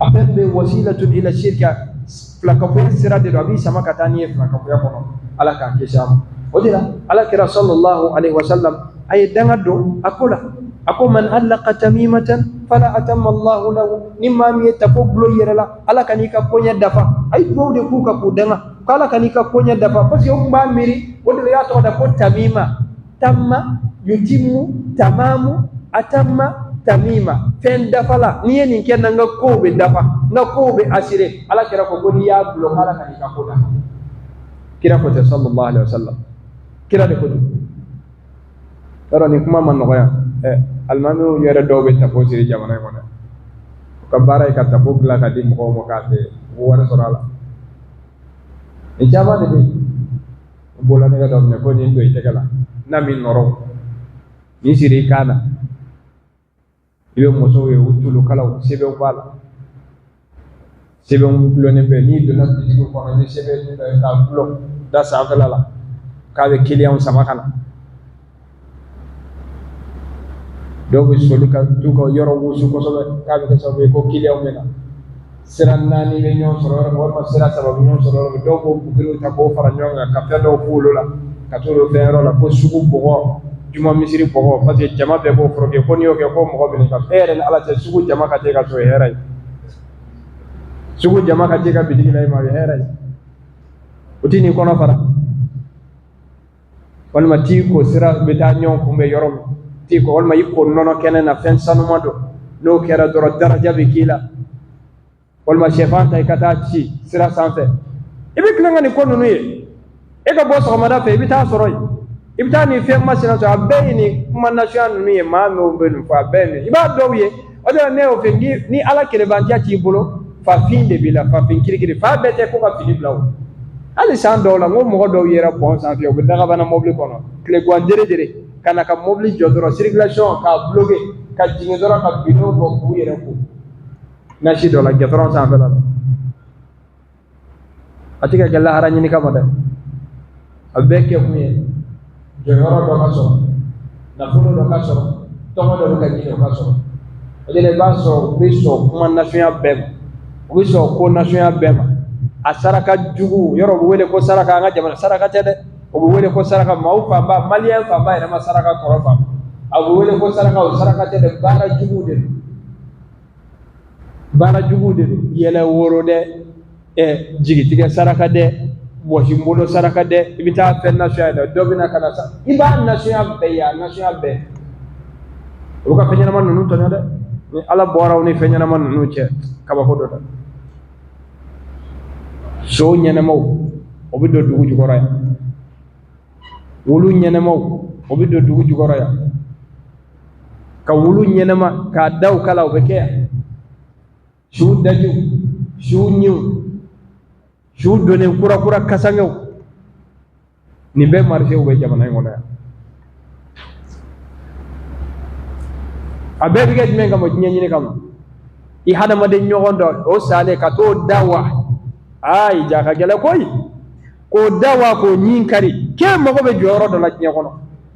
a fɛn bɛ wasilatun ila shirka filakafo sira de don a b'i sama ka taa n'i ye filakafoya kɔnɔ ala k'an kisi a ma o de la ala kira sallallahu alaihi wasallam a ye danga don a ko la a ko man allaka tamimatan fala atamma allahu lahu ni maa min ye tafo gulon yɛrɛ la ala kan'i ka koɲɛ dafa a ye duwawu de k'u kan k'u danga ko ala kan'i ka koɲɛ dafa parce que o tun b'a miiri o de la u y'a tɔgɔ da ko tamima tamma yutimu tamamu atamma tamima fɛn dafala ni n ye nin kɛ n na n ka kow bɛ dafa n ka kow bɛ asire ala kira ko ko n'i y'a gulon ala kan'i ka ko dafa kira ko ten sallallahu alaihi wasallam kira de ko don yɔrɔ nin kuma man nɔgɔn yan ɛ alimamiw yɛrɛ dɔw bɛ tafo siri jamana in kɔnɔ u ka baara ye ka tafo dilan ka di mɔgɔw ma k'a feere u bɛ wari sɔrɔ a la nin caman de bɛ yen n bɔra ne ka dɔ minɛ ko nin don i tɛgɛ la n'a min nɔrɔ nin siri i kan na i bɛ musow ye u tulukalaw sɛbɛnw b'a la sɛbɛnw gulonnen bɛ n'i donna bitigi kɔnɔ i bɛ sɛbɛn dɔ ye k'a gulon da sanfɛla la k'a bɛ kiliyanw sama ka na dɔw bɛ soli ka t'u ka yɔrɔ wusu kosɛbɛ k'a bɛ kɛ sababu ye ko kiliyanw bɛ na sira naani bɛ ɲɔgɔn sɔrɔ yɔrɔ min walima sira saba bɛ ɲɔgɔn sɔrɔ yɔrɔ min dɔw b'o buguriw ta k'o fara ɲɔgɔn kan ka fɛn dɔw f'olu la ka t'o don feere yɔrɔ la ko sugu bɔgɔ juma misiri bɔgɔ parce que jama bɛɛ b'o fɔrɔ kɛ ko n'i y'o kɛ ko mɔgɔ bɛ ka e yɛrɛ ni ala cɛ sugu jama ka t'e ka so hɛrɛ ye sugu jama ka t'e ka bitigi la i ma o ye hɛrɛ ye u tɛn'i kɔnɔ fara walima t'i ko sira bɛ taa ɲɔgɔn kunbɛn yɔrɔ min t'i ko walima i ko nɔnɔ kɛnɛ na fɛn sanuma don n'o kɛra dɔrɔn daraja bɛ k'i la walima sɛfan ta i ka t'a ci sira sanfɛ i bɛ tilen ka nin ko ninnu ye e ka bɔ sɔgɔmada fɛ i bɛ t'a sɔrɔ yen i bɛ taa nin fɛn masina sɔrɔ a bɛɛ ye nin kuma nasuguya ninnu ye maa ninnu bɛ ninnu fɔ a bɛɛ ye nin i b'a dɔw ye o de la ne y'o fɔ ni ala kelenbatoya t'i bolo fafin de b'i la fafin kirikiri fa bɛɛ tɛ ko ka fini bila o hali san dɔw la n ko mɔgɔ dɔw yera pɔn sanfɛ u bɛ dakabana mɔbili kɔnɔ tilegwan dere dere ka na ka mɔbili jɔ dɔrɔn sirikilasiyɔn k'a buloke ka jigin dɔrɔn ka bidon bɔ k'u yɛrɛ ko nasi dɔ la gudɔrɔn sanfɛla la a tɛ ka kɛ lahara ɲini kama dɛ a bɛɛ kɛ kun ye jɔyɔrɔ dɔ ka sɔrɔ nafolo dɔ ka sɔrɔ tɔgɔ dɔ bɛ ka ɲini o ka sɔrɔ o de la i b'a sɔrɔ u bɛ sɔn kuma nasuguya bɛɛ ma u bɛ sɔn ko nasuguya bɛɛ ma a saraka jugu yɔrɔ u bɛ wele ko saraka an ka jamana saraka tɛ dɛ o bɛ wele ko saraka maaw fanba maliyɛn fanba yɛrɛ ma saraka kɔrɔ faamu a bɛ wele ko saraka o saraka tɛ dɛ baara jugu de don baara jugu de don yɛlɛ woro dɛ ɛ jigitigɛ saraka dɛ bɔsi n bolo saraka dɛ i bɛ taa fɛn nasɔn dɛ dɔ bɛna ka na sa i b'a nasɔn bɛɛ ye a nasɔn bɛɛ o ka fɛn ɲɛnama ninnu tɔɲɔ dɛ ni ala bɔra aw ni fɛn ɲɛnama ninnu cɛ kabako don dɛ so ɲɛnɛmaw o bɛ don dugu jukɔrɔ yan wulu ɲɛnɛmaw o bɛ don dugu jukɔrɔ yan ka wulu ɲɛnɛma k'a daw kala o bɛ kɛ yan su dajiw su ɲinw su donnen kura kura kasangew nin bɛɛ marisew bɛ jamana in kɔnɔ yan a bɛɛ bɛ kɛ jumɛn kama diɲɛ ɲini kama i hadamaden ɲɔgɔn dɔ o salen ka t'o da wa aa i ja ka gɛlɛn koyi k'o da wa k'o ɲin kari k'e mago bɛ jɔyɔrɔ dɔ la diɲɛ kɔnɔ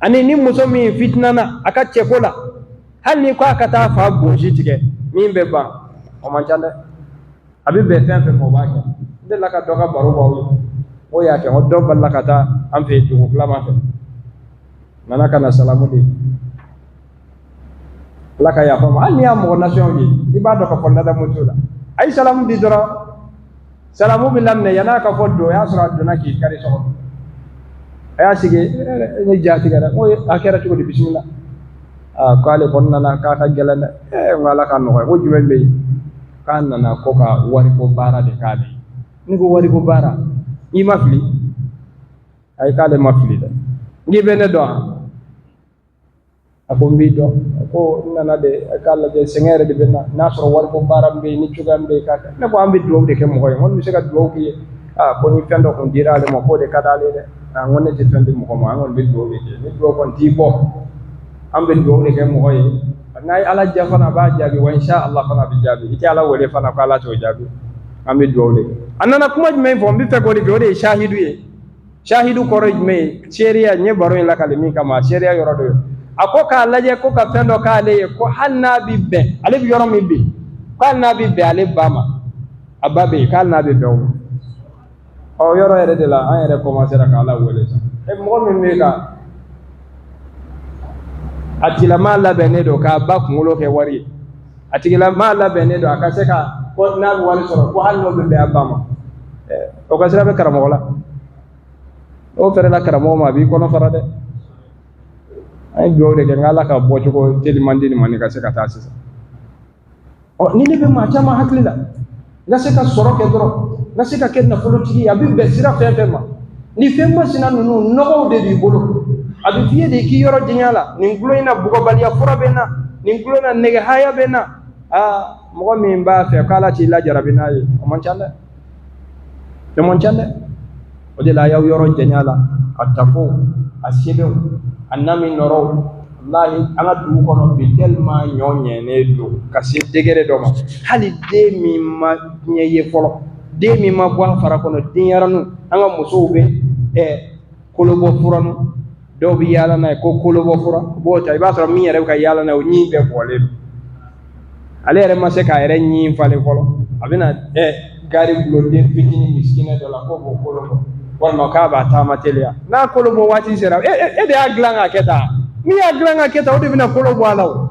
ani ni muso min fitinana a ka cɛko la hali ni ko a ka taa fa bonsi tigɛ min bɛ ban o man ca dɛ a bɛ bɛn fɛn fɛn ma o b'a kɛ n delila ka dɔ ka baro b'aw ye o y'a kɛ o dɔ balila ka taa an fɛ yen dugutilama fɛ nana ka na salamu di ala ka yafa ma hali n'i y'a mɔgɔ nasɔn ye i b'a dɔn ka fɔ ladamu t'o la a ye salamu di dɔrɔn salamu bɛ laminɛ yann'a ka fɔ don o y'a sɔrɔ a donna k'i kari sɔgɔ a y'a sigi ee ne ja tigɛra n ko a kɛra cogo di bisimila aa k'ale kɔni nana k'a ka gɛlɛn dɛ ee n ko ala ka nɔgɔya ko jumɛn bɛ yen k'a nana ko ka wariko baara de k'ale ye ne ko wariko baara i ma fili ayi k'ale ma fili dɛ n k'i bɛ ne dɔn wa a ko n b'i dɔn a ko n nana de k'a lajɛ sɛgɛn yɛrɛ de bɛ n na n'a sɔrɔ wariko baara bɛ yen ni cogoya bɛ yen k'a kɛ ne ko an bɛ dugawu de kɛ mɔgɔ ye n ko n bɛ se ka dugawu k'i ye aa ko ni fɛn dɔ tun dira ale ma k'o de ka d'ale dɛ n ko ne tɛ fɛn di mɔgɔ ma an kɔni bɛ dugawu de kɛ ni dugawu kɔni t'i bɔ an bɛ dugawu de kɛ mɔgɔ ye n'a ye ala diya fana a b'a jaabi wa insha ala fana a bɛ jaabi i tɛ ala wele fana ko ala t'o jaabi an bɛ dugawu de kɛ a nana kuma jumɛn fɔ n bɛ fɛ k'o de kɛ o de ye sahidu ye sahidu kɔrɔ ye jumɛn ye seereya n ye baro in lakali min kama seereya yɔrɔ dɔ ye a ko k'a lajɛ ko ka fɛn dɔ k'ale ye ko hali n'a bɛ bɛn ale bɛ yɔrɔ min bɛ yen ko hali n'a bɛ bɛn ale ba ma a ba bɛ yen ko hali n'a bɛ bɛn o ma o yɔrɔ yɛrɛ de la an yɛrɛ kɔmansera ka ala wele sa e mɔgɔ min bɛ ka a tigilamaa labɛnnen don k'a ba kunkolo kɛ wari ye a tigilamaa labɛnnen don a ka se ka ko n'a bɛ wari sɔrɔ ko hali n'o bɛ bɛn a ba ma o ka siran bɛ karamɔgɔ la n'o fɛrɛla karamɔgɔ ma a b'i kɔnɔ fara dɛ an ye dugawu de kɛ n ko ala ka bɔcogo teliman di nin ma nin ka se ka taa sisan ɔ ni ne bɛ maa caman hakili la n ka se ka sɔrɔ kɛ dɔrɔn n ka se ka kɛ nafolotigi ye a bɛ bɛn sira fɛn fɛn ma ni fɛn masina ninnu nɔgɔw de b'i bolo a bɛ f'i ye de k'i yɔrɔ janya a la nin golo in na bugɔbaliya fura bɛ n na nin golo na nɛgɛ haya bɛ n na aa mɔgɔ min b'a fɛ k'ala t'i lajarabi n'a ye o man ca dɛ o man ca dɛ o de la a y'aw yɔrɔ janya a la a tafo a sɛbɛnw a na min nɔrɔw walahi an ka dugu kɔnɔ bi tellement ɲɔ ɲɛnen don ka se degré dɔ ma hali den min ma diɲɛ ye fɔlɔ den min ma bɔ a fara kɔnɔ denyɛrɛninw an ka musow bɛ ɛ kolobɔ furanu dɔw bɛ yaala n'a ye ko kolobɔ fura u b'o ta i b'a sɔrɔ min yɛrɛ bɛ ka yaala n'a ye o ɲin bɛɛ bɔlen don ale yɛrɛ ma se k'a yɛrɛ ɲin falen fɔlɔ a bɛna ɛ gaari bulon den fitinin misikina dɔ la k'o b'o kolobɔ walima k'a b'a taama teliya n'a kolobɔ waati sera e e de y'a dilan k'a kɛ tan min y'a dilan k'a kɛ tan o de bɛna kolo bɔ a la o